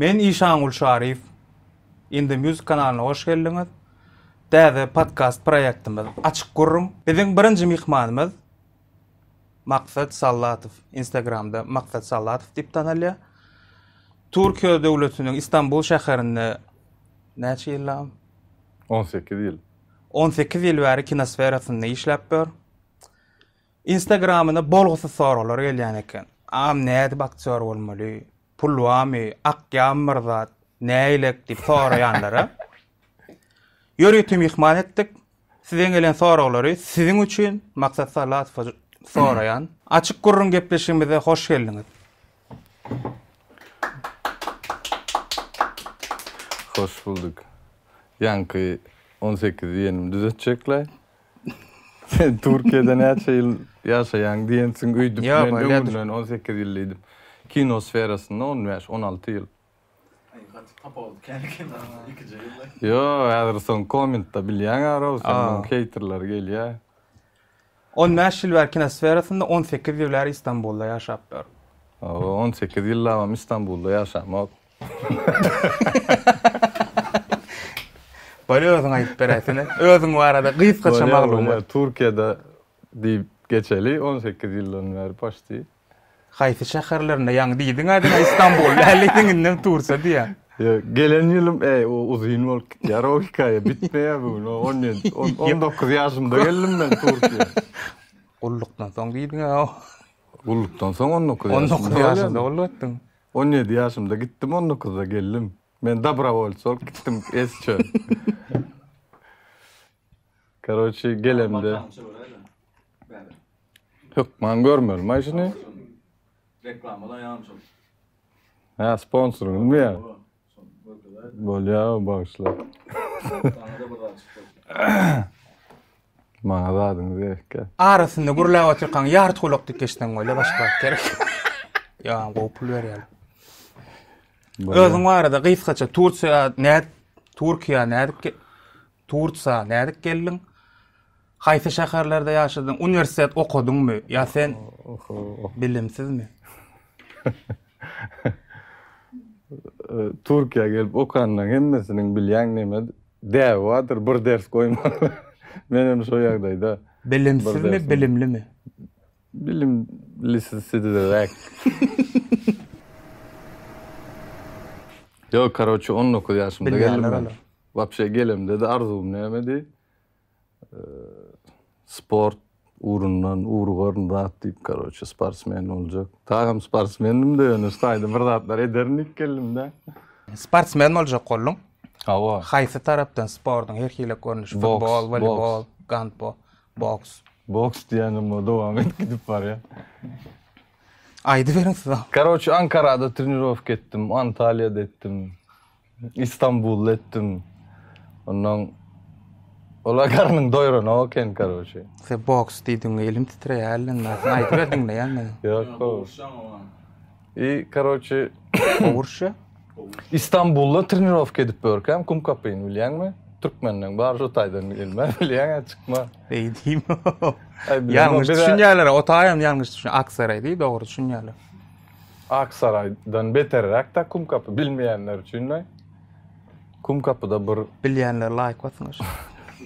Men Işangul Şaryýew. Indie Music kanalyna hoş geldiňiz. Täze podkast proýektimiz Açyk gürrüň. Biziň birinji myhmanymyz Maksat Sallatow. Instagramda Maksat Sallatow diýip tanalýar. Türkiýe döwletiniň Istanbul şäherinde näçe ýyllap? On sekiz ýyl. On sekiz ýyl bäri kino sferasynda işläp ýör. Instagramyna bolgusyz soraglar gelýän eken. Agam nädip aktýor bolmaly? Pul barmy, akýan bir zat, nägilek diýip soraýanlara ýörite myhman etdik. Sizden gelen soraglary siziň üçin Maksat Salatowa soraýan. Açyk gürrüň gepleşigimize hoş geldiňiz. Hoş bulduk. Ýaňky on sekiz ýenimi düzetjekläý. Sen Türkiýede näçe ýyl ýaşaýaň diýensiň öýdüp men öňünden on sekiz ýyl diýdim. Kino sferasynda on bäş, on alty ýyl. Aý gaty tapawut kän kino ikije ýylda. Ýo häzir soň kommentda bilýäň arauw seniň heýterler gelýä. On bäş ýyl bäri kino sferasynda on sekiz ýyl bäri Istanbulda ýaşapdyr. Owo on sekiz ýyllabam Istanbulda ýaşamok. Bolýa özüň aýdyp beräýsene. Özüň barada gysgaça maglumat. Türkiýede diýip geçeli 18 ýyldan bäri paşti. Haýsy şäherlerinde ýaňy diýdiň a diňe Istanbul däldiň indem Tursa diýýäň. Gelen ýylym e o uzyn bolup gitýär o hekaýa bitmeýär bu gün 17 19 ýaşymda geldim men Türkiýä. Gullukdan soň diýdiň a. Gullukdan soň 19 ýaşymda. 19 ýaşymda gullup etdiň. On ýedi ýaşymda gitdim on dokuzda geldim men dabrawolc bolup gitdim es çöl karoçi gelemde hökman görmeli maşyny reklama laýamçyl hä sponsoryňyzmy ýa Bolýar bagyşla. Maňa zadyňy berkä. Arasynda gürläp otyrkaň ýarty gulak dikeşden goýla başga zat gerek. Ýa gowy pul berýär. Özüň barada gysgaça Tursiýa nädip Turkiýa nädip Tursa nädip geldiň? Haýsy şäherlerde ýaşadyň? Uniwersitet okadyňmy? Ýa sen bilimsizmi? Türkiýä gelip okanlaň hemmesiniň bilýän neme däbi bardyr bir ders goýman. Men hem şo ýagdaýda. Bilimsizmi, bilimlimi? Bilimlisizräk. Ýok, karoçe, on dokuz ýaşymda geldim. Wapşe gelemde-de arzuwym nämedi? sport ugrundan ugrugaryn zat diýip karoçe sportsmen boljak. Dagam sportsmendim de ýöne staýda bir zatlar ederin diýip geldim-de. Sportsmen boljak bolduň. Hawa. Haýsy tarapdan sportuň her hili görnüşi futbol, woleýbol, gandbol, boks. Boks diýenim o dowam edip gidip barýar. Aýdyberiň siz. Karoçe Ankarada trenirowka etdim, Antaliýada etdim. Istanbulda etdim. Ondan ola garnyň doýrana oken karoçe. Sen boks diýdiň, elim titreýär ellende. Sen aýdyp berdiň de ýa-da. Ýok, ýok. I karoçe. Urşa? Istanbulda trenirowka edip börkäm kum kapyny bilýäňmi? Türkmenden bar şu taýdan gelme bilýäň ä çykma. Eý diýme. Ýalňyş düşünýärler, o taýam ýalňyş düşün. Aksaray diý dogry düşünýärler. Aksaraýdan beterräk-dä Kumkapy bilmeýänler üçin men. Kumkapyda bir Bilýänler laýk bassyň aşa.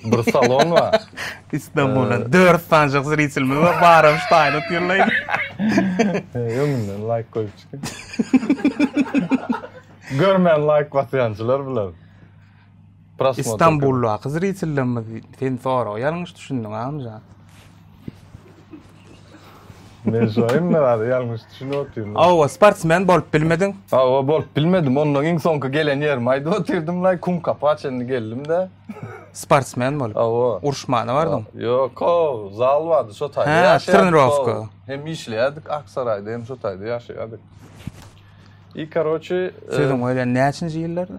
bir salon bar. Istanbuldan dört sanjak zritilimiz bar, baram şu taýyny tirleýin. Öňünden laýk goýup çykyň. Görmän laýk basýançylar biler. Istanbuldaky zritellerimiz sen soraga ýalňyş düşündiň Agamjan. Men şu aýym narazy ýalňyş düşünip otyryn. Hawa, sportsmen bolup bilmediň? Hawa, bolup bilmedim. Ondan iň soňky gelen ýerimi aýdyp otyrdym laý, Kumkapa çenli geldim-de. Sportsmen bolup? Hawa. Uruşmana bardyň? Ýok, haw, zal bardy, şo taýda ýaşaýardyk. Hä, trenirowka. Hem işleýärdik, Aksaraýda hem şo taýda ýaşaýardyk. I, karoçi, Sözüň bilen näçinji ýyllarda?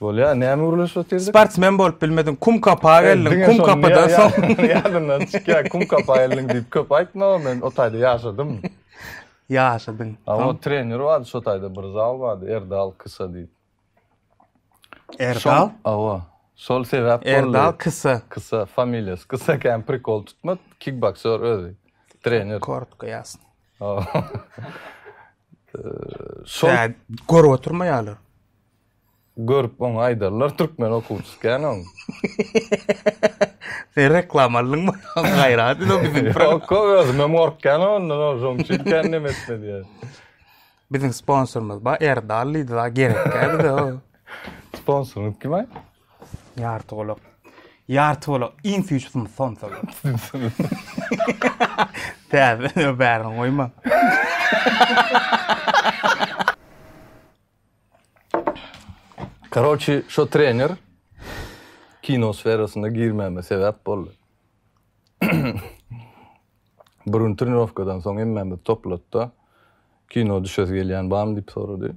Bolýar, näme gürleşip otyrdyk? Sportsmen bolup bilmediň, kum kapa geldiň, kum kapadan soň. Ýadymdan çykýar, kum kapa geldiň diýip köp aýtma, men o taýda ýaşadym. Ýaşadyň. A o trener bardy şo taýda bir zal bardy, Erdal Kysa diýip. Erdal? Awa. Şol sebäp boldy. Erdal Kysa. Kysa, familiýasy Kysa ekeni, prikol tutma, kikboksýor özi. Trener. Kortko ýazsyn. Şol görüp oturmaýarlar. Görüp oňa aýdarlar türkmen okuwçysy kän oň. Sen reklama aldyňmy? Gaýrat ede biziň. Ýok, özümem gorkýan ondan, şoň üçin kän neme etme diýýän. Biziň sponsorymyz bar, Erdal diýdi, gerek däl bize. Sponsoryňyz kim-aý? Ýartygolak. Ýartygolak iň süýji sym sonsa. Täze nö bärini goýma. Karoçi şo trener kino sferasyna girmäme sebäp boldy. Bir gün trenirowkadan soň hemmämizi toplatda kino düşesi gelýän barmy diýip sorady.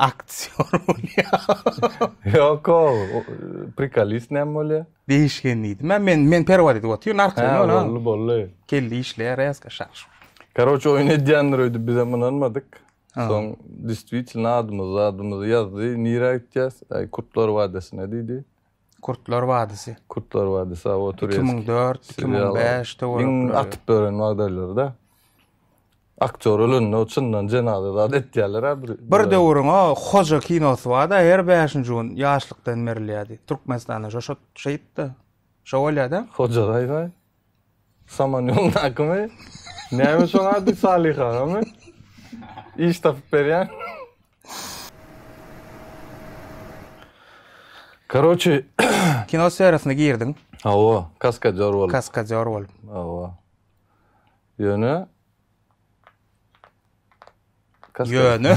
Aktýor bolýar. Ýok ol, prikolist näme bolýar? Degişgen diýdim. Mä men men perwar edip otyr, narkoz ol. Boldy, boldy. Kelle işleýär resga şar şur. Karoç oýun edýändir öýdüp bizem ynanmadyk. Soň distwitelno adymyzy zadymyzy ýazdy. Nirä gitýäs? Aý kurtlar wadasyna diýdi. Kurtlar wadysy. Kurtlar wadysy a o Tureski. 2004, 2005 de görüp. Iň atyp beren wagdaýlary da. Aktýor ölende o çyndan jenaza zat etýärler a bir. Bir döwrüň o Hoja kinosy barda her bäşinji gün ýaşlykdan berilýärdi. Türkmenistanda şo şo şeýtdi. Şo bolýada. Hoja gaýga. Saman ýoldakymy? Näme şoň ady Salyh agamy? Iş tapyp berýän. Karoçi. Kino sferasna girdiň. Hawa, kaskadýor bolup. Kaskadýor bolup. Hawa. Ýöne Ýöne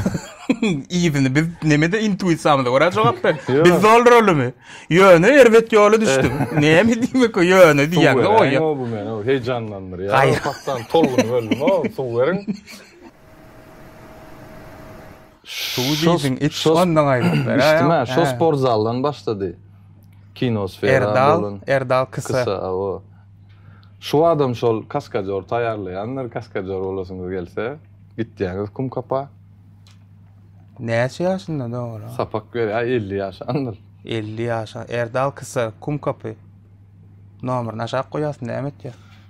ýygyny biz nemede intuisiýamyza görä jogap ber. Biz dolduralymy? Ýöne erbet ýola düşdüm. Näme diýmek o ýöne diýýäňde goýýa. Ýok bu meni heýjanlandyrýar. Paçdan tolgun böldüm o suw beriň. Şo sport zaldan başlady. Erdal kysa. Şu adam şol kaskadýor taýýarlaýandyr, kaskadýor bolasyňyz gelse, gitýäňiz kum kapa. Näçe ýaşynda dogry? Sapak berýär, elli ýaşandyr. Elli ýaşan. Erdal kysa, kum kapy. Nomerini aşak goýasyn näme etýär?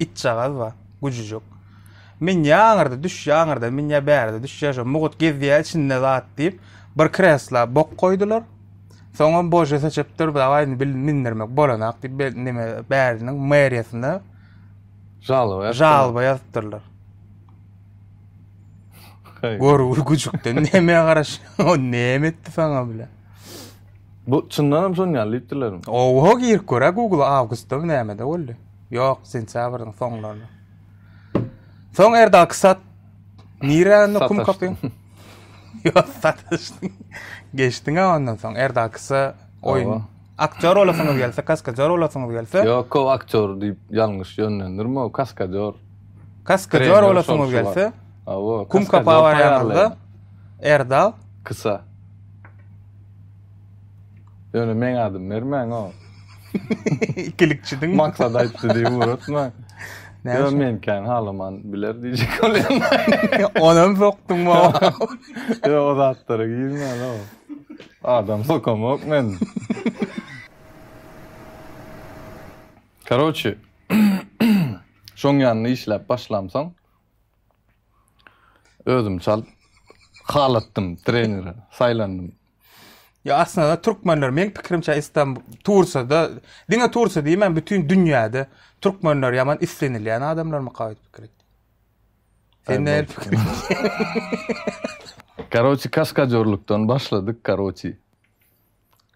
itjagaz bar, güjüjek. Men ýa aňyrda düş, ýa aňyrda min, ýa bärde düş, ýa şo mugut gezýär içinde zat diýip, bir kresla bok goýdular. Soňam bože seçip dur, dawaý indi bil mindirmek bolanak diýip, be- neme bäriniň meriýasyna Žalba ýaz. žalba ýazypdyrlar. Haý. Gör bir güjükden näme garaş, o näme etdi saňa bile. Bu çyndanam şon ýaly diýipdirlermi? Oho girip gör-ä Google-a awgustda mı nämede boldy. Ýok, sentýabryň soňlarynda. Soň Erdal Kysat nirä indi kum kapyň? Ýok, sataşdyň. Geçdiň ondan soň Erdal Kysa oýun. Aktýor olasyňyz gelse, kaskadýor olasyňyz gelse. Ýok, o aktýor diýip ýalňyş ýönlendirme, o kaskadýor. Kaskadýor olasyňyz gelse. Awa, kum kapa barýanlarda Erdal Kysa. Ýöne meň adym bermäň o. Ikilikçidiň. Maksat aýtdy diýip uratma. Näme men kän halaman biler diýjek bolýan. Onam sokdum o. Ýa o zatlara girmän o. Adam sokamok men. Karoçi. Şoň ýanynda işläp başlamsoň özüm çalt halatdym trenere saýlandym. Ya aslynda türkmenler men pikirimçe İstanbul Tursada diňe Tursa diýmän bütün dünýäde türkmenler ýaman islenilýän adamlar mı kawet pikir etdi. Sen ne pikir Karoçi kaskadörlükden başladyk karoçi.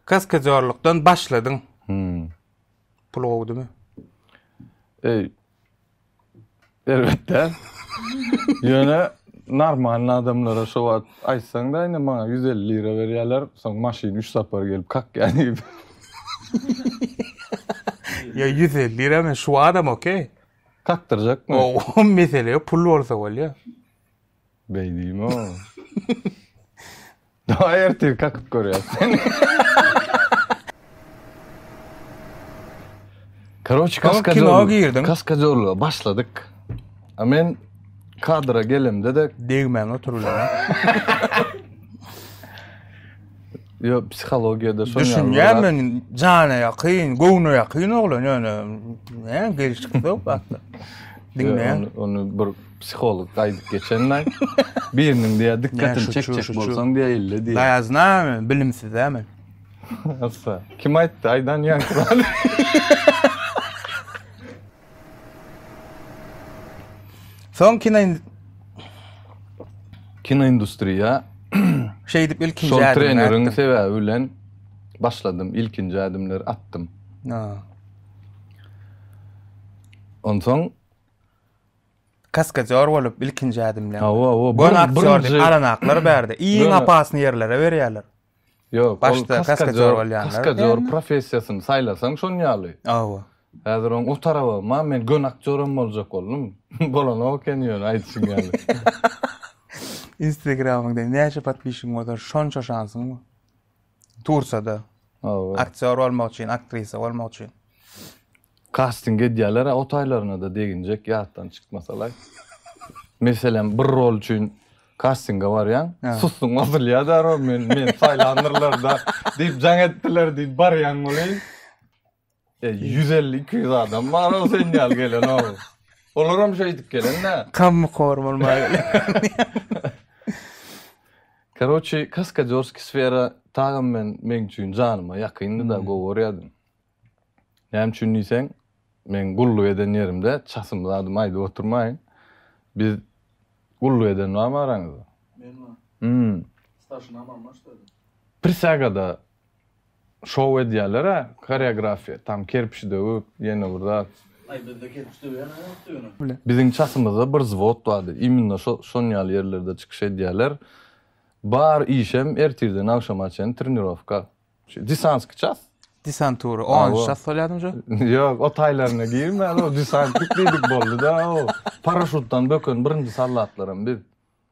Kaskadörlükden başladyň. Hmm. Pul gowdymy? Ey, Elbetde. Ýöne normalny adamlara şo wagt aýtsaň-da, indi maňa ýüz elli lira berýärler, soň maşyn üç sapar gelip kakýar diýip. Ýa ýüz elli lira men şu adama okey. Kakdyrjakmy? O mesele ýok, pul bolsa bolýar. Beýdimo. Daýy ertir kakyp görýäs seni. Karoç kaska kino girdim. Kaska jorluga başladyk. A men kadra gelimde de degmän oturulýar. Yo psihologiyada şoň Düşünýän men jana ýakyn, göwne ýakyn oglan ýöne näme gelişik ýok hakda. Diňleýän. Onu bir Psiholog gaýdyp geçenlaý. Biriniň diýýär dykgatyny çekjek bolsaň diýýär ille diýýär. Daýazyna men bilimsizä men. Assa. Kim aýtdy aýdan ýaňky. Soň kino kino industriýa şeýdip ilkinji şol treneriň sebäbi bilen başladym. Ilkinji ädimleri atdym. Onsoň Kaskadýor bolup ilkinji ädimleýär. Hawa, hawa. Bu aktýor diýip alanaklar bärde. Iň apasny ýerlere berýärler. Ýok, ol kaskadýor bolýanlar. Kaskadýor professiýasyny saýlasaň şon ýaly. Hawa. Häzir oň o taraba, ma men göni aktýoram boljak boldum. Bolanok eken ýöne aýdyşyň ýaly. Instagramyňda näçe podpişigiň bolsa şonça şansyň bar. Tursada. Hawa. Aktýor bolmak üçin, aktrisa bolmak üçin. Kasting edýärler-ä o taýlaryna-da deginjek ýatdan çykmasalaý. Meselem, bir rol üçin kastinge barýaň, sustuň ozulýar-da rol, men, meni saýlandyrlar-da diýip jaň etdiler diýip barýaň weli. E, ýüz elli, iki ýüz adam bar o sen ýaly gelen o. Olar hem şeýdip gelen-dä. Kammy korum bolmaga gelen. Karoçi, Kaskadýorskiý sfera tagam men meň üçin janyma ýakyndy-da, gowy görýärdim. Näme üçin diýseň, meň gulluk eden ýerimde çasym zadym aýdyp oturmaýyn. Biz gulluk eden barmy araňyzda? Men-ä? Hum. Starşinamam başda. Prisýagada Şow edýäler-ä, koreografiýa, tam kerpiç döwüp, ýene bir zat. Aý, bizde kerpiç döwýän-ä ýokdy ýöne. Biziň çasymyzda bir zwod bardy, immina şo, şonuň ýaly ýerlerde çykyş edýäler. Bar işem ertirden agşama çen trenirowka. Şu desantskiý ças. Desantura, onunjy ças bolýadymy şu? Ýok, o taýlaryna girmän, o desantnik diýdik boldy-da, o paraşutdan böken birinji soldatlaram biz.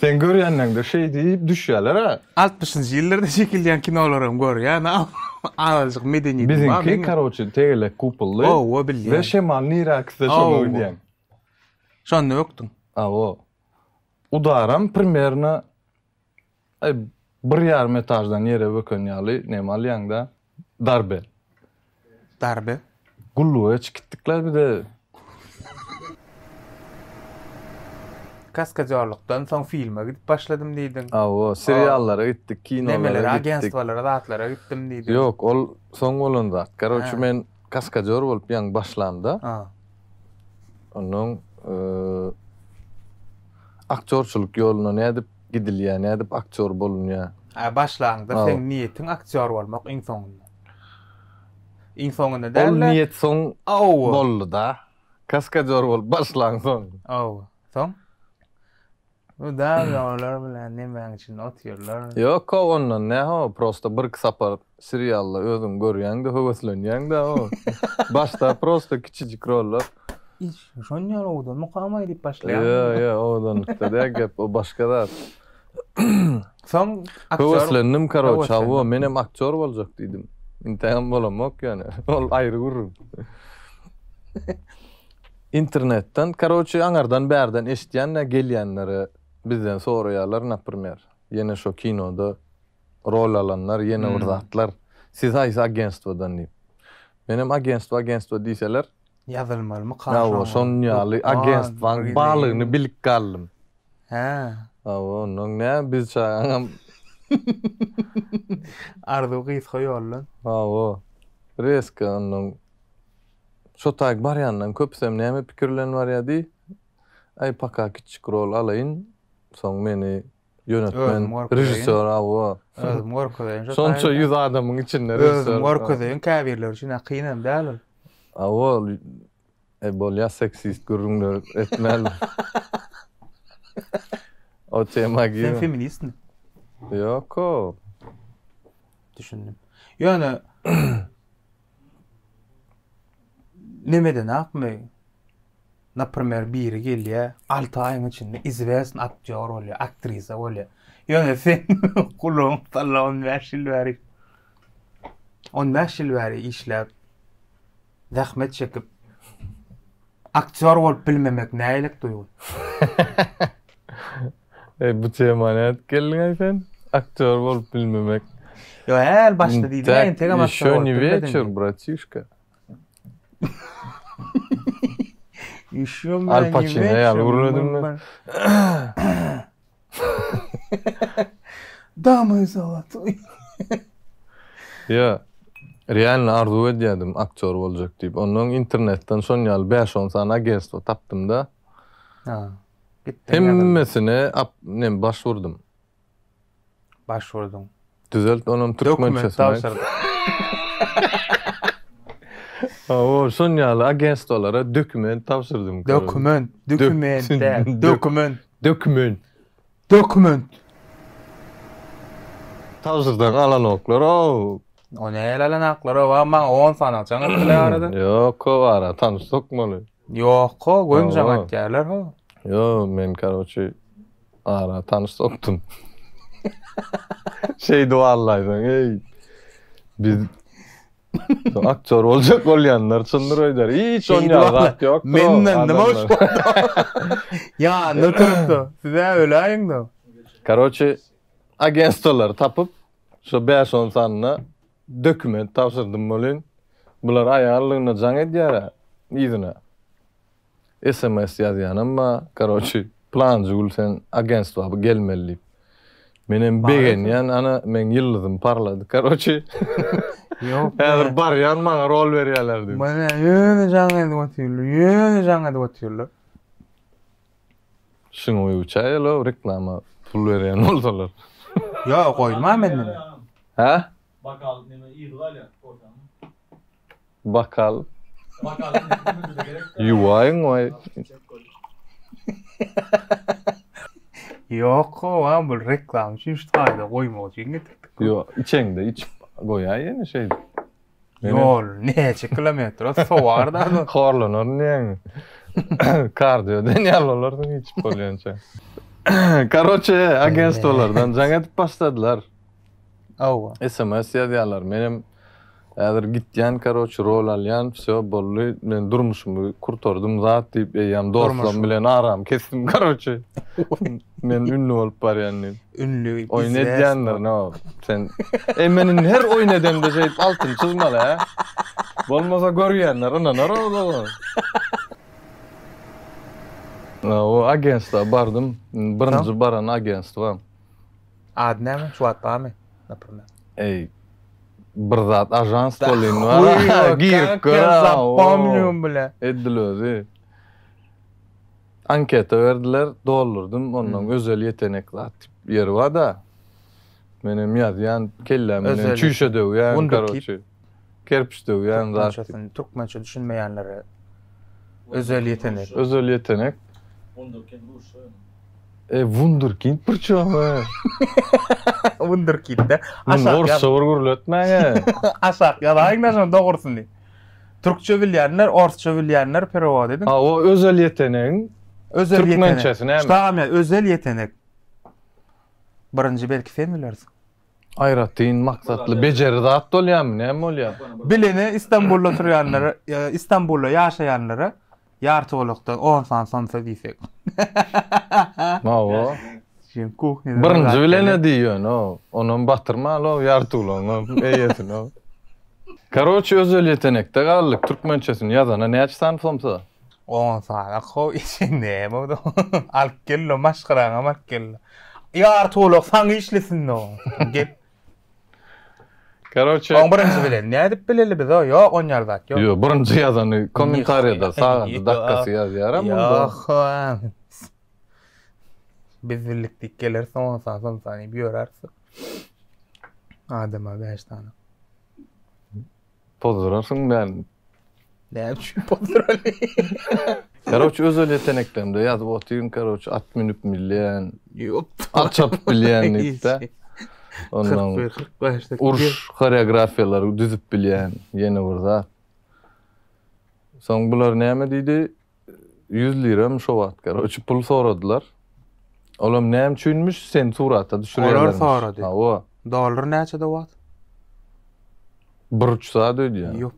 Sen görýänleňde şeý diýip düşýäler-ä. Altmyşynjy ýyllarda çekilýän kinolaram görýän a azajyk medeniýetim bar meň. Biziňki karoçe tegelek kupolly. Hawa bilýän. We şemal nirä akse şoňa gidýän. Şonda ökdüň. Hawa. Udaram primerno Aý, bir ýarym etaždan ýere böken ýaly näme alýaň-da? Darbe. Darbe? Gulluga çkitdik-le biz-ä. Kaskadýorlykdan soň filme gidip başladym diýdiň. Hawa, seriallara gitdik, kinolara gitdik. Nemeler, agentstwalara, zatlara gitdim diýdiň. Ýok, ol soň bolan zat. Karoçi, men kaskadýor bolup ýaňy başlamda, onnoň aktýorçylyk ýoluna nädip gidilýär nädip aktýor bolunýar. Äý başlanyňda seň niýetiň aktýor bolmak iň soňunda. Iň soňunda däl-de. Ol niýet soň boldy-da. Kaskadýor bolup başlaň soň. Hawa. Soň? Bu dagy olar bilen nemäň içinde otyrlar. Ýok-ow ondan nähow prosta bir iki sapar Serialda özüň görýäňde höweslenýäňdä o başda prosta kiçijik rollar. Iş şon ýaly owadan mukamaý diýip başlaýar. Ýa ýa owadanlykda däl gep o başga zat. Soň aktýor Höweslendim karoç hawa menem aktýor boljak diýdim. Intägem bolamok ýöne ol aýry gürrüň. Internetden karoçi aňardan bärden eşitýände gelýänlere bizden soraýarlar naprmer ýene şo kinoda rol alanlar, ýene bir zatlar. Siz haýsy agentstwadan diýip. Menem agentstwa agentstwa diýseler. Ýazylmalymy kaşaň. Hawa, şonuň ýaly agentstwaň barlygyny bilip galdym. Hä. Hawa, ondan nä biz çagaňam. Arzuw gysga ýoldan. Hawa. Reska ondan. Şo taýy barýandan köpüsem näme pikir bilen barýa diý. Aý paka kiçijik rol alaýyn. Soň meni Ýönetmen, režissýor, hawa. Özüm görkezeýin. Şonça ýüz adamyň içinde režissýor. Özüm görkezeýin, käbirleri üçin kyn hem däl ol. Hawa, ol e bolýar seksist gürrüňler etmän. O tema girme. Sen feministmi? Ýok-o. Düşündim. Ýöne Nemedenakmy, naprimer, biri gelýär, alty aýyň içinde izwesn aktýor bolýar, aktrisa bolýar. Ýöne sen gulagyň talla on bäş ýyl bäri, on bäş ýyl bäri işläp, zähmet çekip, aktýor bolup bilmemek nähilek duýgy? Eý bu tema nädip geldiňaý sen? Aktýor bolup bilmemek. Ýo äl başda diýdiňä entegem aktýor bolup bilmedim. Ýeşo niweçer bratişka. Ýeşo men Al Pacino ýaly görünedimmi? Damay sawat. Ýa. Realny arzuw edýärdim aktýor boljak diýip. Ondan internetden şon ýaly 5-10 sany agentstwo tapdym-da. Ha. Gitdim ýazyldy. Hemmesine ap, nem, baş urdum. Baş urduň. Düzelt onam türkmençesini. Dokument tabşyrdym. Hawa, şon ýaly agentstwalara dokument tabşyrdym. Dokument, dokument däl, dokument. Dokument. Dokument. Tabşyrsaň alanoklar, ow. O näle alanaklar, ow, maňa on sany aljaň etdiler arada. Ýok, o ara tanyş sokmaly. Ýok ho, gömjaň aýtýarlar ho. Ýo, men karoçi ara tanyş sokdum. Şeýdi wallaýsaň, eý. Biz aktýor boljak bolýanlar çyndyr öýder. Hiç on ýa zat ýok. Menden nima üçin? Ýa, ne turupdy? Siz-ä öläýiňda. Karoçi agentstolary tapyp, şo bäş-on sanyna Dokument tabşyrdym welin bular aýallygyna jaň edýärä yzyna sms ýazýanam bar karoçi planjy gül sen agentstwa gelmeli diýip menem begenýän ana meň ýyldyzym parlady karoçi häzir barýan maňa rol berýäler diýip. Ýöne jaň edip otyrlar ýöne jaň edip otyrlar Şunuň öýüçä ýöle reklama pul berýän bolsalar. Ýok, goýulman menden. Hä? Bakal neme yzy galýa ortaň. Bakal. Bakal neme gerek. Ýuwaýyň waý. Ýok gowa bul reklama üçin şu taýda goýmak üçin getirdik. Ýok içeňde içip goýaý ýene şeýdip. Ýol näçe kilometr? Ot sowar da. Horlanar diýen. Kardio den ýal bolarsyň hiç bolýança. Karoçe agentstwalardan jaň edip başladylar. Hawa. SMS ýazýarlar. Menem häzir gitýän karoçe rol alýan. Wsýo boldy. Men durmuşymy kurtardym zat diýip eýýäm dostlarym bilen aram kesdim karoçe. Men ünlü bolup barýan diýip. Ünlü Oýun izleýäs edýändir bol. no sen. Eý men indi her oýun edemde şeýdip altyn çyzmaly hä. Bolmasa görýänler ynanar oglaa. Na o agentstwa bardym. Indi birinji baran agentstwam. Ady näme? Şu wagt barmy? Naprimýer. Eý bir zat ajans bolýan bar. Uý, Girip kak, gör. sen a, o. zapomnium bile. Edil özi. Anketa berdiler, doldurdym, onnoň özel ýetenek zat diýip ýeri bar-da. Menem ýazýan, kelläm bilen çüýşe döwýän, karoçi, kerpiç döwýän zat. Türkmençesini, türkmençe düşünmeýänlere özel ýetenek. Özel ýetenek. Wunderkind rusça ýaly. E, wunderkind bir çuwama. Wunderkind-de. Aşak ýaz. Rusça bir gürletmäň-ä. Aşak ýazaýyň-da şonuň dogrusyny. Türkçe bilýänler, orsça bilýänler perewod ediň. Hawa, özel ýetenegiň türkmençesi näme? Şdagam ýa özel ýetenek. Birinji belki sen bilersiň. Aýratyn maksatly bejeri zat bolýarmy, näme bolýar? Bilene Istanbulda turýanlara, Istanbulda ýaşaýanlara Ýarty golakda on san somsa diýsek. Hawa. Şeýle kuhnýada. Birinji bilen-ä diý ýöne, onam batyrmaly-ow ýarty golagyňam eýesini. Karoçi özel ýetenekde galdyk, türkmençesini ýazana näçe san somsa? On sana kow içi näme-ow. Alyp gel-le, maşgalaňam alyp gel-le. Ýarty golak saňa işlesin-ow. Gel. Karoçe. Oň birinji bilen nädip bileli biz o ýok onýar zat ýok. Ýok birinji ýazany kommentariýada sagady dakgasy ýazýar hem onda. Ýok. Biz bildik diýip geler soň saň soň saň diýip ýöräris. Adama 5 sany. Pozdurarsyň meni. Näme üçin pozdurany? Karoç özel yeteneklerimde ýazyp otyryn karoç at münüp bilýän. Ýok. At çapyp bilýän diýipde. Ondan 45 dakika. Uruş koreografiýalary düzüp bilýän ýene bir zat. Soň bular näme diýdi? Ýüz liramy şo wagt garoçe pul soradylar. Olam näme üçinmiş sen surata düşürýärler. Olar sorady. Hawa. Dollar näçede wagt? Bir üç saat öýdýär. Ýok,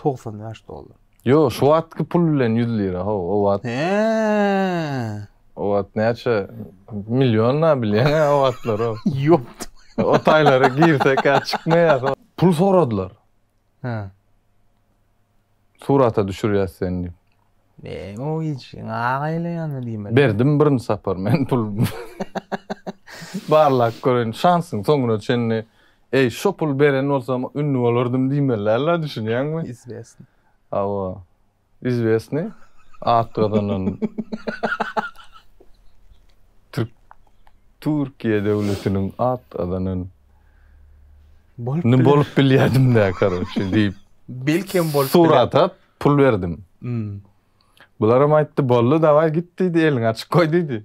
95 dollar. Ýo, şu wagtky pul bilen 100 lira, ho, o wagt. He. O wagt näçe million na bilýän o wagtlar o. Ýok. O taýlara girse ka çykmaýar. Pul soradylar. Hä. Surata düşürýäs seni diýip. Neň o hiç aga ile ýanyna diýmeli. Berdim birinji sapar men pul. Barlap göreýin şansyň soňuna çenli eý şo pul beren bolsam ünlü bolardym diýmeli la düşünýäňmi? Izwestn. Hawa. izwesni at gazanan türk Türkiýe döwletiniň at gazanan Bolup Ni biler. bolup bilýärdim dä karoçe diýip Belki hem bolup biler. surat at pul berdim. Hmm. Bularam aýtdy boldy dawaý git diýdi eliňi açyk goý diýdi.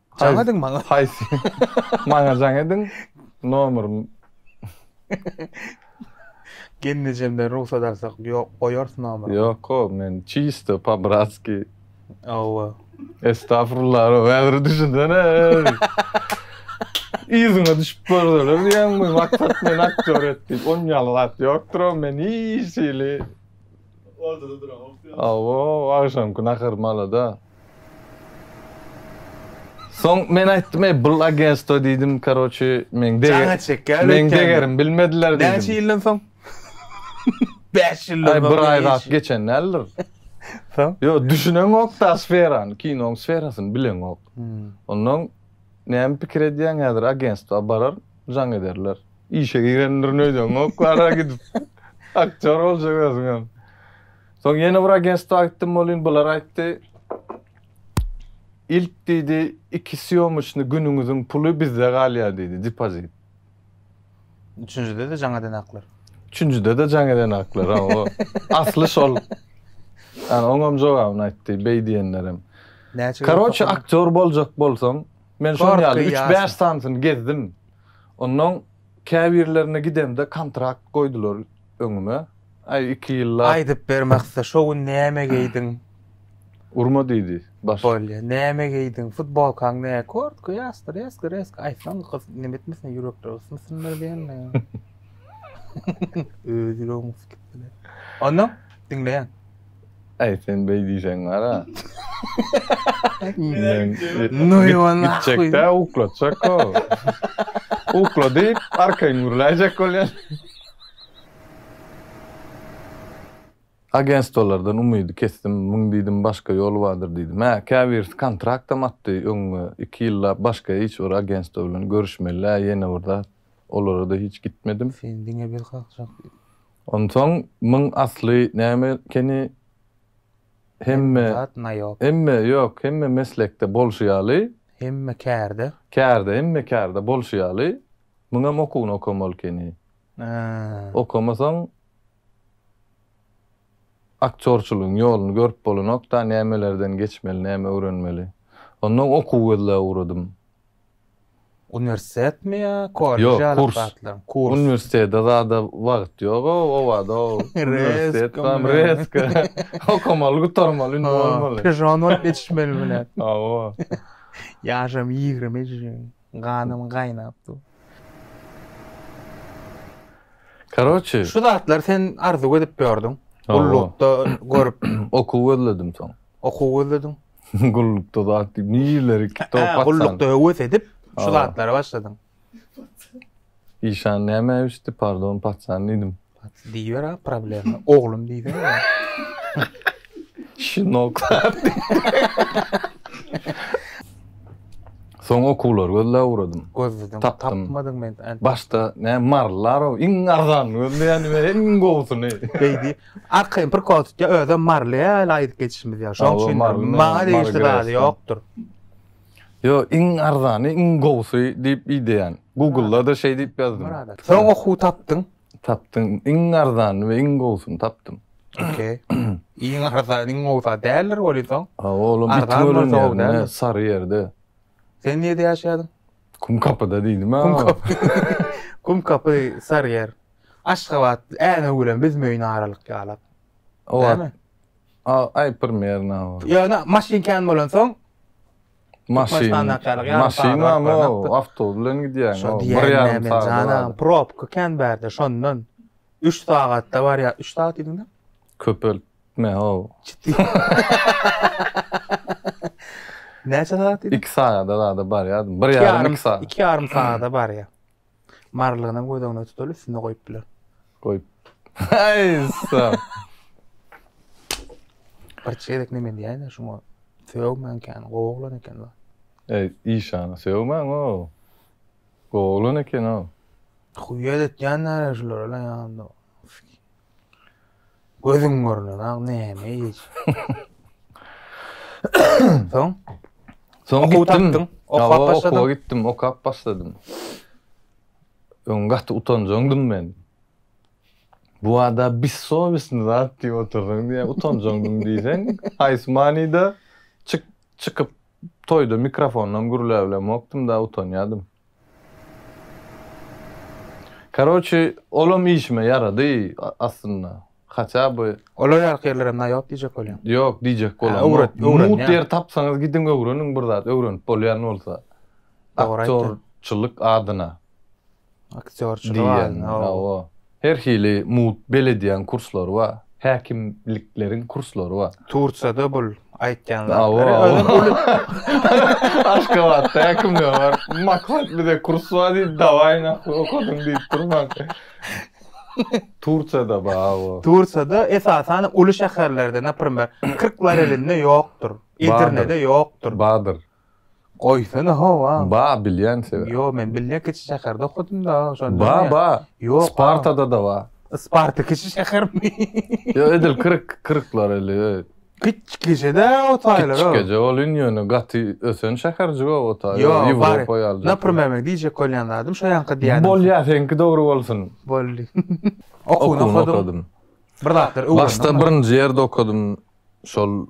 Jaň ediň maňa. Haýsy? Maňa jaň ediň. Nomer. Gelnejemden rugsat alsak, ýok, goýarys nomeri. Ýok, o men çisto, po-bratskiý. Hawa. Estagfurullah, ro, häzir düşünsene. Yzyňa düşüp görseler diýýäňmi, maksat meni aktýor et diýip, on ýaly zat ýokdur, o men hiç hili. Awo agşamky nahar malada. Soň men aýtdym eý bul agenstwo diýdim karoçi meň degerim bilmediler diýdim. Näçe ýyldan soň? Bäş ýyldan soň. Aý bir aý zat geçen däldir. Soň? Ýok düşüneňokda sferany kinoň sferasyny bileňok. Onnoň näme pikir edýäň häzir agenstwa barar. jaň ederler. Işe girendirin öýdeňok, ara gidip aktýor boljak özüňem. Soň ýene bir agentstwa gitdim bolin, bular aýtdy. Ilk diýdi, iki sýomyçny günüňiziň puly bizde galýar diýdi, depozit. Üçünjide-de jaň eden aklar. Üçünjide-de jaň eden aklar, hawa. Asly şol. Ýani oňam jogabyny aýtdy, beý diýenlerem. Näçe Karoçe aktýor boljak bolsaň, Men şonuň ýaly üç-bäş sanysyny gezdim. Onnoň käbirlerine gidemde kontrakt goýdular öňüme. Aý, iki ýyllap. Aýdyp ber Maksa, şo gün näme geýdiň? Urma diýdi başlyk. Bolýa, näme geýdiň? Futbolkaň nä? Kurtka, ýasty, reska, reska. Aýtsaň, gyz neme etmesin, ýürekleri ysmasynlar diýenle. Öz ýüregim ysyp gitdi-le. Onnoň, diňleýän. Aý sen beý diýseň gara. Men No i on nahwi. gitjekdä uklatjak o. Ukla diýip arkaýyn gürläýjek bolýan. Agentstwolardan umydy kesdim, muň diýdim başga ýoly bardyr diýdim. Hä, käbirisi kontraktam atdy öňňe, iki ýyllap başga hiç bir agentstwo bilen görüşmelä ýene bir zat, olara-da hiç gitmedim. Sen diňe bir kakjak. Onsoň muň asly näme ekeni hemme zat naýop. Hemme ýok hemme meslekde bolşy ýaly. Hemme kärde. Kärde hemme kärde bolşy ýaly muňam okuwyny okamaly ekeni. Okamasaň aktýorçylygyň ýoluny görüp bolanokda nämelerden geçmeli näme öwrenmeli. Onnoň okuw gözläp ugradym. Uniwersitetmi ýa kollej ýaly Ýok, kurs. Kurs. Uniwersitete zada wagt ýog-a, obada uniwersitet bar, rezka. Okamaly, gutarmaly, indi bolmaly. Pižon bolup ýetişmeli bilen. Hawa. Ýaşam ýigrimi jeň, ganym gaýnap dur. Karoçi. Şu zatlary sen arzuw edip ýördüň. Gullukda görüp. Okuw gözledim soň. Okuw gözlediň. Gullukda zat diýip, nijeleri kitap açsaň. Gullukda höwes edip, şu zatlara başladyň. Işan näme öýüşdi, pardon, paçan diýdim. Diýiber-ä, problema. Oglum diýsene. Şinok. Soň okuwlary gözläp ugradym. Gözledim. Tapdym. Tapmadyň men. Başda ne marlarow iň arzanyny gözleýän men iň gowusyny. Beýdi. Arkaýyn bir kod tutýar, özem Marly ýaly aýdyp geçişimiz ýaly. Şoň üçin maňa degişli zady ýokdur. Ýo, iň arzany, iň gowusy diýip ideýän. Google-da-da şeý diýip ýazdym. Soň okuw tapdyň? Tapdym. Iň arzany we iň gowusyny tapdym. Okey. Iň arzany, iň gowusy zat däldir welin soň? Olam Bitgöl, Saryýerde. Sen nirede ýaşaýardyň? Kumkapyda diýdim-ä. Kumkapy. Kumkapy, Saryýer. Aşgabatly änew bilen biz möýüne aralyk ýalap. Näme? A, aý prmerno. Ýöne maşyn kän bolansoň maşyn maşyn barmy awtobus bilen gidýäňmi bir ýarym sagat probka kän bärde şondan üç sagatda barýar üç sagat diýdiňmi köpeltme o näçe sagat diýdiň iki sagada zada barýar bir ýarym iki sagat iki ýarym sagada barýar Marylygyna göz öňüne tutuly üstüne goýup biler. Goýup. Aý ussa. Bir çeýrek neme diýäýin şuňa. Sögmän kän, gowy oglan eken la. Eý, işana sögmän o. Gowy oglan eken o. Huýýet etýänler şulara la ýa. Gözüň görnenak näme iş? Soň? Soň Okuw gitdim. tapdyň, okap Ýa, başladyň. Okuwa gitdim, okap başladym. Öň gaty utanjaňdym men. Bu wada bessowesny zat diýip otursaň diýýär, utanjaňdym diýseň, haýsy manyda? Çyk, çykyp toýda mikrofondan gürläbilemokdym-da, utanýardym. Karoçi olam işime ýarady aslynda haça by. Olar ýaly ýerlerem na ýok diýjek bolýaň. Ýok diýjek bolanok. Mut ýer tapsaňyz gidiň öwreniň bir zat öwrenip bolýan bolsa. Aktýorçylyk adyna. Aktýorçylyk adyna. Her hili mugt belediýaň kurslary bar. Häkimlikleriň kurslary bar. Turçada bul aýtýan zatlary özem uly Aşgabatda häkimlige baryp maksat bize kurs bar diýip dawaý nahwy okadyň diýip durmaň. Turçada bar bu. Turçada esasan uly şäherlerde naprimer Kyrklarelinde ýokdur. Edirnede ýokdur. Bardyr. Goýsana how a. Ba bilýän sebä. Ýo men bilýän kiçi şäherde okadym da şonda. Ba ba Ýok spartada da ba. Sparta kiçi şähermi. Ýo edil kyrk kyrklar eli öýt. Kiçikejede o taýlar o. Kiçikeje ol in ýöne gaty ösen şäherjik o o taý o ýewropa ýaly. Naprimer men diýjek bolýan zadym şo ýanka diýýän. Bolýa seňki dogry bolsun. Boldy. Okuny okadym. Bir zatlar öwrendim. Başda birinji ýerde okadym. şol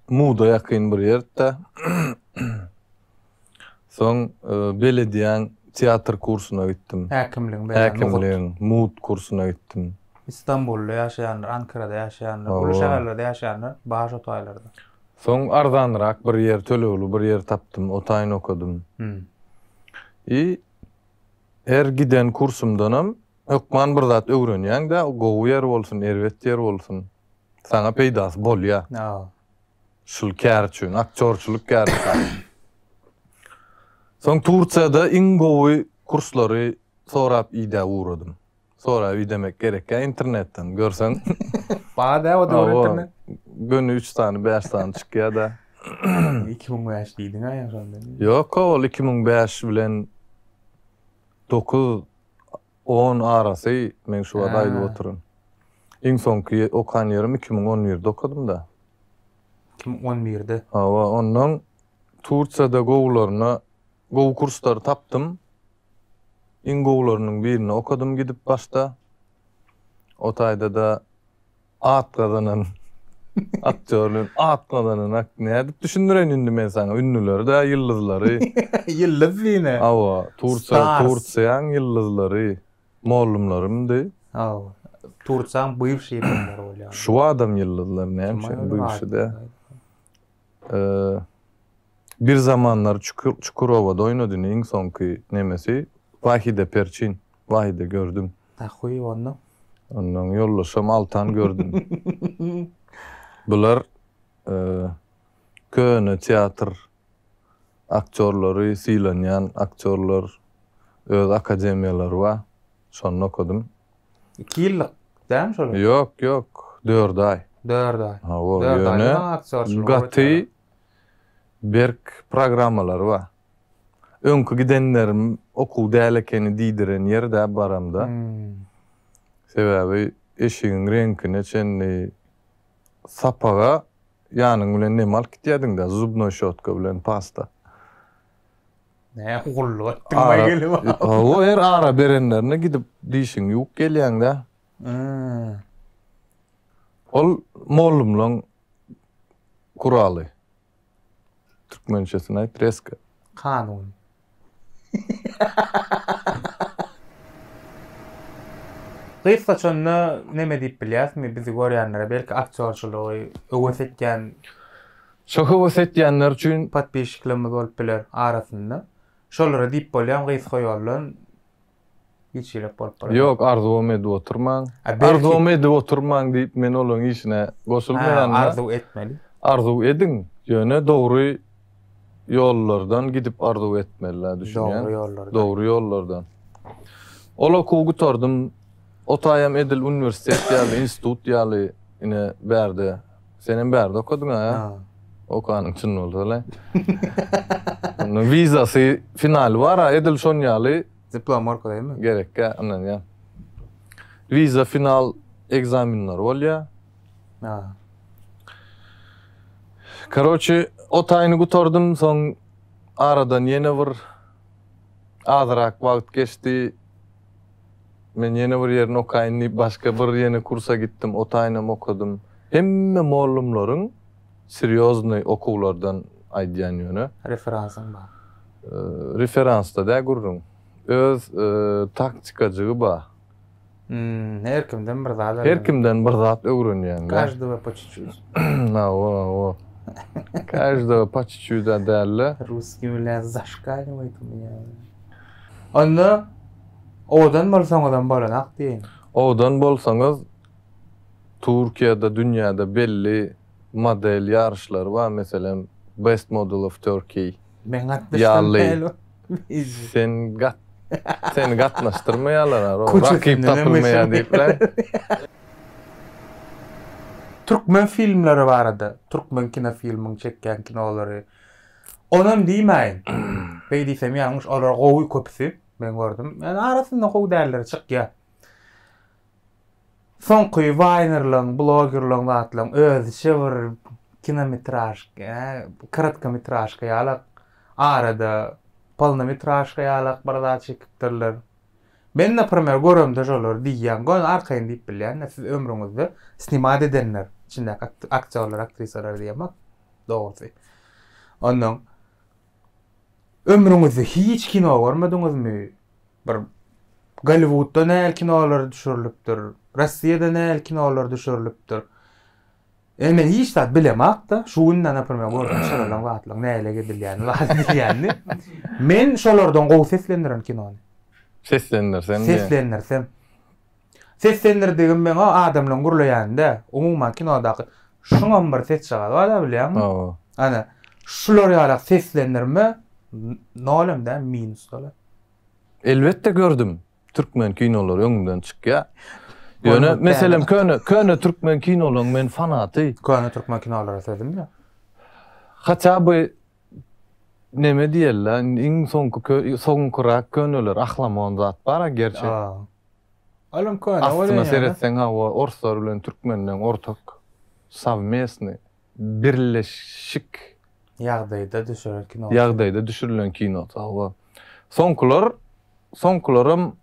Muda ýakyn bir ýerde. Soň belediýäň teatr kursuna gitdim. Häkimligiň berýän nokat. Häkimligiň Mud kursuna gitdim. Istanbulda ýaşaýanlar, Ankarada ýaşaýanlar, uly şäherlerde ýaşaýanlar bar şo taýlarda. Soň arzanrak bir ýer, tölegli bir ýer tapdym, o taýyn okadym. I her giden kursumdanam hökman bir zat öwrenýäň-dä, gowy ýer bolsun, erbet ýer bolsun. Saňa peýdasy bolýar. Şul kär üçin, aktýorçylyk kär üçin. Soň Tursiýada iň gowy kurslary sorap idä ugradym. Sorap idemek gerekýär internetden, görseň. Bar-dä o döwür internet. Göni üç sany, bäş sany çykýar-da. Iki müň bäş diýdiň-ä ýa şonda. Ýok-a, ol iki müň bäş bilen dokuz. On arasy men şu bada aýdyp otyryn. Iň soňky okan ýerim iki müň on birde okadym-da. Iki müň on birde? Hawa, ondan Tursiýada gowularyna, gowy kurslary tapdym. Iň gowularynyň birinde okadym gidip başda. O taýda-da. at gazanan aktýor bilen at gazananak nädip düşündireýin indi men saňa ünlüleri-dä ýyldyzlary. Ýyldyz diýne. Hawa, Tursa Tursiýaň ýyldyzlary, mollumlarymdy. Hawa. Tursaň bywşy ýyldyzlary bolýar. Şuadam ýyldyzlar näme üçin bywşy-dä. Bir zamanlar Çukurowada oýnadyn iň soňky nemesi Wahide Perçin Wahide gördüm. Ahuy onda. Ondan ýoldaşam Altan gördüm. Bular köne teatr aktýorlary sylanýan aktýorlar öz akademiýalary bar şonda okadym. 2 ýyllyk dämi şol? Ýok, ýok, 4 aý. 4 aý. Hawa, ýöne gaty berk programmalary bar. Öňki gidenlerim okuw däl ekeni diýdiren ýer-dä baramda. Sebäbi eşigiň reňkine çenli sapaga ýanyň bilen neme alyp gitýärdiň-dä, zubnoý şotka bilen pasta. Nä gullup atdyň baý gelin. Hawa her ara berenlerine gidip dişiňi ýuwup gelýäňdä. Ol mollumlaň guraly. Türkmençesini aýt reska. Kanuny. Gyz saçanda neme diýip bilýäsmi bizi görýänlere belki aktýorçylygy höwes etýän Şo höwes etýänler üçin. Podpisçiklerimiz bolup biler arasynda. Şolara diýip bolýam gysga ýoldan giçiräk bolup biler. Ýok arzuwam edip oturmaň. Arzuwam edip oturmaň diýip men olaň işine goşulmaýan. Hä arzuw etmeli. Arzuw ediň ýöne dogry ýollardan gidip arzuw etmeli düşünýäňmi. Dogry ýollardan. Dogry ýollardan. Ol okuwy gutardym. Otaýam edil uniwersitet ýaly institut ýaly ine bärde. Senem bärde okadyň a? Ha. Okanyň çyn bolsa le. Onda vizasy finaly bar a, edil şon ýaly. Diplom arkalymy? Gerek kä, ondan ýa. Viza final ekzamenleri bolýa. Ha. Karoçi, o taýyny gutardym, soň aradan ýene bir azyrak wagt geçdi. Men ýene bir ýerini okaýyn diýip başga bir ýene kursa gitdim, otaýynam okadym. Hemme mollumlaryň serýoznyý okuwlardan aýdýan ýöne. Referansyň bar. Referansda dä gürrüň. Öz taktikajygy ba. Hmm, her kimden bir zat öwrenýän. Her kimden bir zat öwrenýän. Každoga po çiçüt. Hawa, hawa. Každoga po çiçüt-ä däl-le. Ruskiý bilen zaşkaýnowat. Onda. Owadan bolsaňyzam bolanok diýiň. Owadan bolsaňyz Türkiýede dünýäde belli model ýaryşlary bar meselem Best Model of Turkey Men gatnaşdyrmaýaly o bizi. Sen gat seni gatnaşdyrmaýalar ar o rakyp tapylmaýa diýip le. Türkmen filmleri barada türkmen kinofilmiň çekýän kinolary onam diýmäýin beý diýsem ýalňyş olar gowy köpüsi. Men gördüm. Yani arasynda gowy dälleri çykýa. Soňky waynerlaň, blogerlaň zatlaň özüçe bir kinometražka, yani kratkometražka ýalak arada polnometražka ýalak bir zat çekipdirler. Men naprimer göremde şolar diýýän, göni arkaýyn diýip bilýän-de siz ömrüňizde snimat edenler, içindäki aktýorlar, aktrisalar diýemok dogrusy. Onnoň Ömrüňizde hiç kino görmediňizmi? Bir Golliwudda nähili kinolar düşürilipdir, Rossiýada nähili kinolar düşürilipdir. Indi men hiç zat bilemok-da, şu günde naprimýer gördüm şalaryň zatlaryň nähili edilýänini, waz edilýänini. Men şolardan gowy seslendirin kinony. Seslendirseň diýen. Seslendirsem. Seslendirdigim meň o adamlaň gürleýäni däl. Umuman kinodaky şuňam bir sesjagazy bar-a bilýäňmi? Hawa. Ana, şular ýaly seslendirme nol hem däl, minus däl-a. Elbetde gördüm. Türkmen kinolary öňümden çykýar. Ýöne meselem köne köne türkmen kinolaryň men fanaty. Köne türkmen kinolara sözüm ýok. Haçan bu neme diýerler, iň soňky kö soňkurak köneler ahlamon zat bar-a gerçek. Olam köne bolýan Aslynda seretseň hawa orslar bilen türkmenleň ortak sowmestny birleşik ýagdaýda düşüren kino. ýagdaýda düşürilen kino hawa. Soňkular soňkularam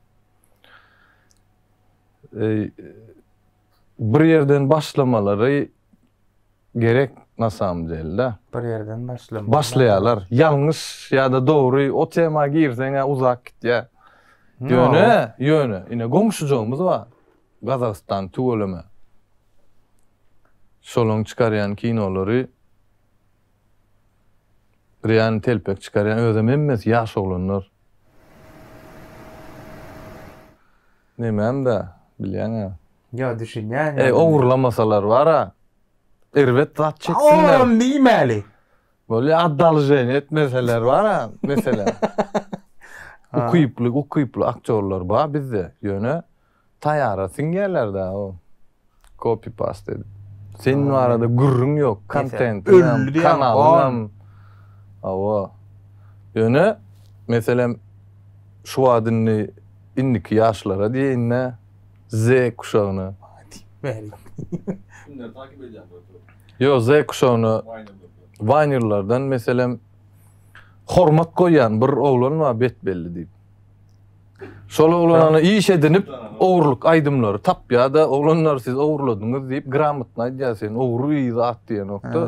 bir ýerden başlamalary gerek na samym delda. Bir ýerden başlamaly. Başlaýalar. Ýalňyş ýa-da dogry o tema girseň-ä uzak gitýä. Ýöne, ýöne ine goňşujygymyz bar. Gazagystan tüweleme. Şolaň çykarýan kinolary real telpek çykarýan özem hemmesi ýaş oglanlar. Nemem-dä, bilýäň-ä. Ýa, düşünýän ýaly. Eý, ogurlamasalar bar-a. Erbet zat çeksinler. Ogrum diýmäli. Bolýa, oddolženiýa etmeseler bar-a, meselem. Ukyply, ukyply aktýorlar bar bizde, ýöne taýara siňýärler-dä. Copy past edip. Senin barada gürrüň yok. Kontentiňem, kanalyňam. Hawa. Ýöne meselem şu wagt indi indiki ýaşlara diýeýinde Z kuşagyna. Maňa diýip beriň. Kimleri takip edýäň bu ýerde? Ýok, Z kuşagyna. Waýnerlerden meselem hormat goýýan bir oglan bar Betbelli diýip. Şol oglanany iş edinip, ogurlyk aýdymlary tapýar-da, oglanlar siz ogurladyňyz diýip, gramotny aýdýar, sen ogry bir zat diýenokda,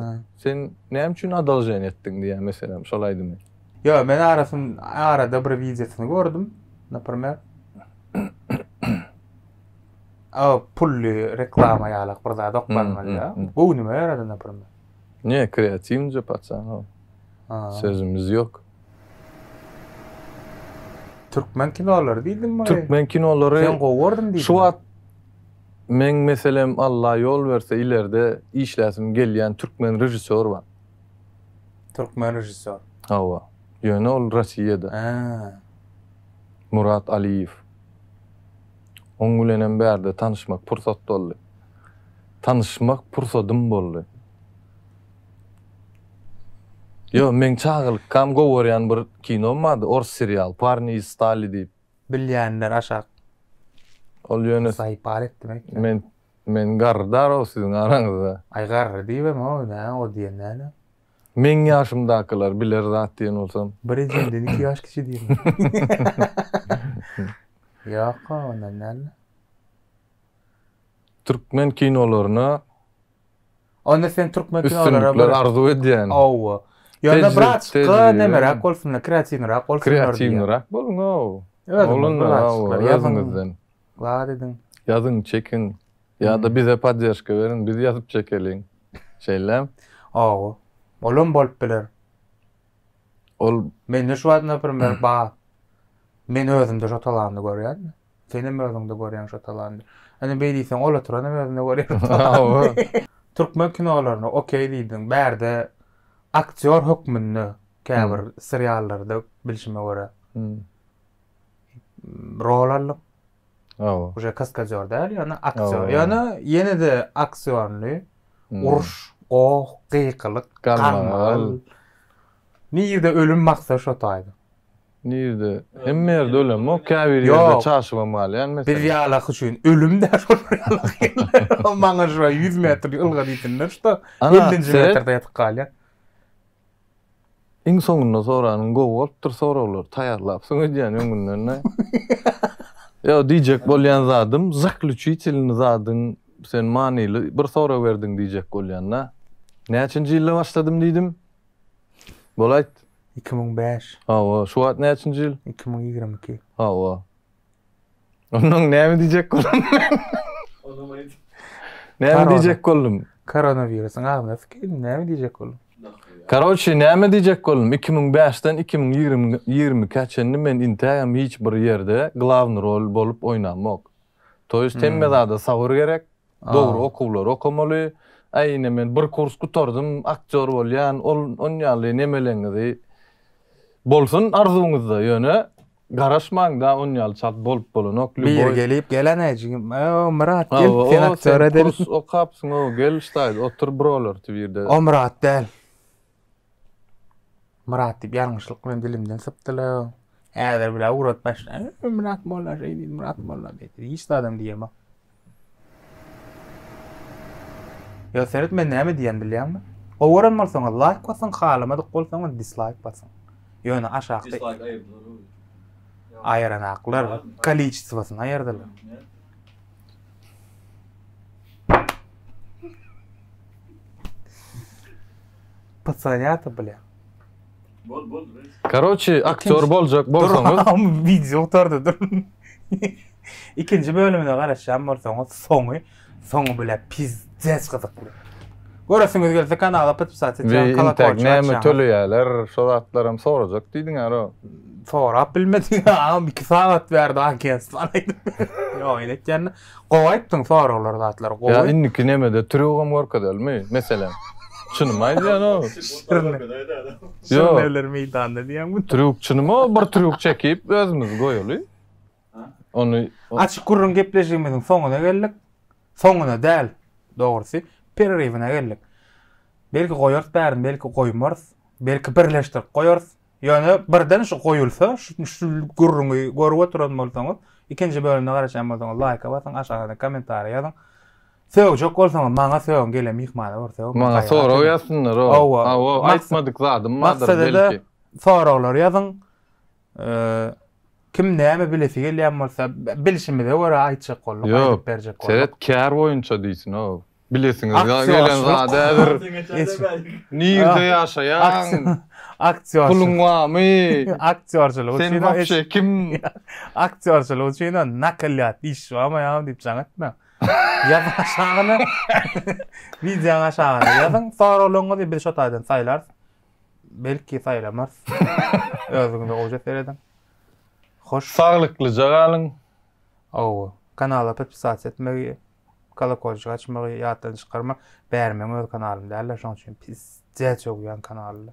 sen näme üçin adaljen etdiň diýýär, meselem, şol aýdymy. Ýok, men arasyn, arada bir wideosyny gördüm, naprimer. A, pully reklama ýalak bir zat oklanmaly ýa. Göwnüme ýarady, naprimer. Ne kreatiwnje paçanow. Sözümiz ýok. Türkmen kinolary diýdim muny. Türkmen kinolary. Sen gowy gördüm diýdim. Şu wagt meň meselem Allah ýol berse ilerde işläsim gelýän türkmen režissýor bar. Türkmen režissýor. Hawa. Ýöne ol Rossiýada. Hä. Murat Aliýew. Oň bilenem bärde tanyşmak pursat boldy. tanyşmak pursadym boldy. Ýo, meň çagalykam gowy görýän bir kinom bardy, ors serial, Parni iz stali diýip. Bilýänler aşak. Ol ýöne. Saýpar etdim ekde. Men, men garry darag siziň araňyzda. Aý garry diýibem oý nä o diýen näne. Meň ýaşymdakylar biler zat diýen bolsam. Bir ejemden iki ýaş kiçi diýme. Ýok-a ondan näne. Türkmen kinolaryna Onda sen türkmen kinolara bir arzuw edýän. Hawa. Ýöne brat, ky nemeräk bolsunlar, kreatiwnyrak bolsunlar. Kreatiwnyrak boluň haw. Özüňiz bilen ýazyňyzdan. Zat ediň. Ýazyň, çekiň. Ýa-da bize podderžka beriň, biz ýazyp çekeliň. Şeýlem. Hawa. Olam bolup biler. Ol mende şu wagt naprimer bar. Men özümde şo talany görýän. Senem özüňde görýäň şo talandy. Ine beý diýseň ol oturanam özünde görýär talandy. Türkmen kinolaryna okeý diýdiň. Bärde aktýor hökmünde käbir seriallarda bilşime görä rol aldyň. Hawa. Uje kaskadýor däl, ýöne aktýor. Ýöne ýene-de aktýorly uruş, goh, gykylyk, ganmagal. Nirde ölüm baksa şo taýda. Nirde? Hemme ýerde ölemok, käbir ýerde çaşybam galýan meselem. Biz ýalaky üçin ölüm däl şolar ýalaky. Maňa şo ýüz metr ylga diýsinler şda ellinji metrde ýatyp galýan. Iň soňunda soranyň gowy bolupdyr soraglar taýýarlapsyň öýdýän öňünden dä. Ýok diýjek bolýan zadym zakluçitilny zadyň sen manyly bir sorag berdiň diýjek bolýan dä. Näçinji ýylda başladym diýdim? Bolaýt. Iki müň bäş. Hawa, şu wagt näçinji ýyl? Iki müň ýigrimi iki. Hawa. Ondan näme diýjek boldum men? Onam aýt. Näme diýjek boldum? Koronawirusyň agzyna sykeýdim, näme diýjek boldum? Karoçi, näme diýjek boldum? Iki müň bäşden iki müň ýigrimi ikä çenli men intägem hiç bir ýerde glawny rol bolup oýnamok. To ýest hemme zada sabyr gerek, dogry okuwlary okamaly. Aý ine men bir kurs gutardym, aktýor bolýan, ol on ýaly nemeleňizi bolsun arzuwyňyzda, ýöne garaşmaň da on ýaly çalt bolup bolanok. Biri gelip gelene o Myrat gel sen aktýor edeliň. Sen kurs okapsyň o gel ştaýda otur brolerty birde. O Myrat däl. Myrat diýip ýalňyşlyk bilen dilimden sypdylar. Häzir bile ugrat başla. Myrat molla şeý diýdi, Myrat molla diýdi. Hiç adam diýemok. Ýa seret men näme diýen bilýäňmi? Gowy gören bolsaňyz laýk basyň, halamadyk bolsaňyz dislaýk basyň. Ýöne aşakda Dislike aýyrdylar. aýyranaklar kolleçisosyny aýyrdylar. Pysyrýardy bile. Bol bol. Karoçi aktýor boljak bolsaňyz. Durun, wideo gutardy dur. Ikinji bölümine garaşýan bolsaňyz soňy soňy bile piz. Zäç gyzykly. Göresiňiz gelse kanala podpisat et. Kolokol näme töleýärler, şo zatlaram sorajak diýdiň ara. Sorap bilmedik. Am 2 sagat berdi agentstw aýdyp. Ýok, ýene etýän. Gowy aýtdyň soraglar zatlar. Gowy. Ýa indiki nemede trýugam görkezelmi? Meselem. Çynymy aýdýan o. Ýok. Şeýleler meýdanda diýýäňmi? Trýuk çynymy o bir trýuk çekip özümiz goýaly. Ony Açyk gürrüň gepleşigimiziň soňuna geldik. Soňuna däl, dogrusy, pereriwine geldik. Belki goýarys bärini, belki goýmarys. Belki birleşdirip goýarys. Ýöne birden şu goýulsa, şu gürrüňi görüp oturan bolsaňyz, ikinji bölümine garaşýan bolsaňyz laýka basyň, aşagyna kommentariý ýazyň. Sögjek bolsaňyz maňa sögüň, gelen myhmana bir sögüň. Maňa sorag ýazsynlar, hawa. Aýtmadyk zadym bardyr belki. Soraglar ýazyň. Kim näme bilesi gelýän bolsa, bilşimize görä aýtjak bolduk, aýdyp berjek bolduk. Seret, kär boýunça diýsin-ow. Bilesiňiz gelen zady häzir nirde ýaşaýaň, puluň barmy, aktýorçylyk üçin, sen wapşe kim, aktýorçylyk üçin nakalýat iş barmyam diýip jaň etmäň. Ýazyň aşagyna, wideonyň aşagyna ýazyň, soraglaryňyzy biz şo taýdan saýlarys. Belki saýlamaz. Özüňize oje serediň. Hoş. Saglyklyja galyň. Ow, kanala podpisasiýa etmegi, kolokolçyk açmagy ýatdan çykarma. Bäri meň öz kanalym däldir, şoň üçin pis jäç ogýan kanalda.